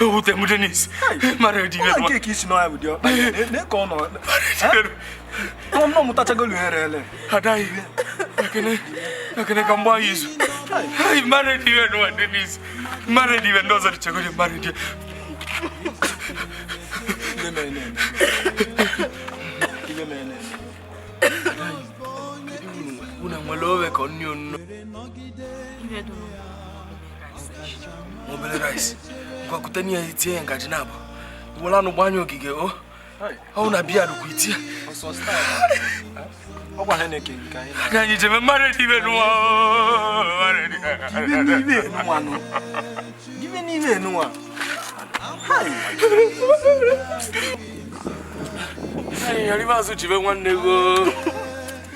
ewute m denis mara dị ime nke ka isi na ya bụ diọkpa na ka ọ nọ nọ m mụtachagolu here ele adaghị ekene ekene ka mgbe anyị izu mara dị ime nwa denis mara dị ime ndị ọzọ dị chegodi mara dị una nwere owe ka ọ nni onno obere rice gwakute n'ihe itinye ngaji naabọ were anụ gbanye ogige o ọwụ na biya rukwa itie na anyị jebe mmadụ dị ibe nụwa Give me even no one. Hi. Hey, arriba su chive one nego.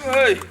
Hey.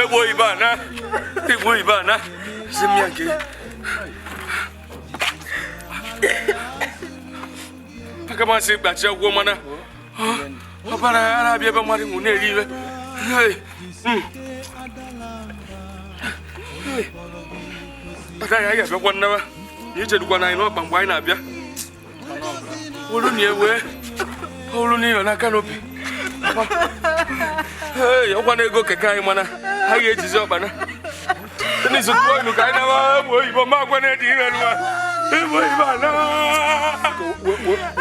egbuo ibe a na igbuo ibe a na si m ya nke aka masị gbachi agwọ mana ọbara ya na-abịa ebe mmadụ nwụ na-eri iwe agaghị anyị abịakwa nnawa na ichedukwa na anyị n'ọkpa mgbe anyị na-abịa olu na ewe olu na ịnọ na canopy ee ọkwa na ego keke anyị mana ha ga-ejizi ọkpana n'izu tụọ ilu ka anyị nawa egbe oyibo ma agwa na-edi ire nwa egbe oyibo ana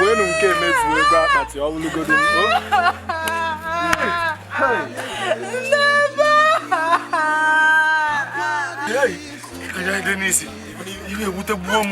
wenu nke emezuo ego akpati ọwụlụgodo anya denis iwe ewute gbuo m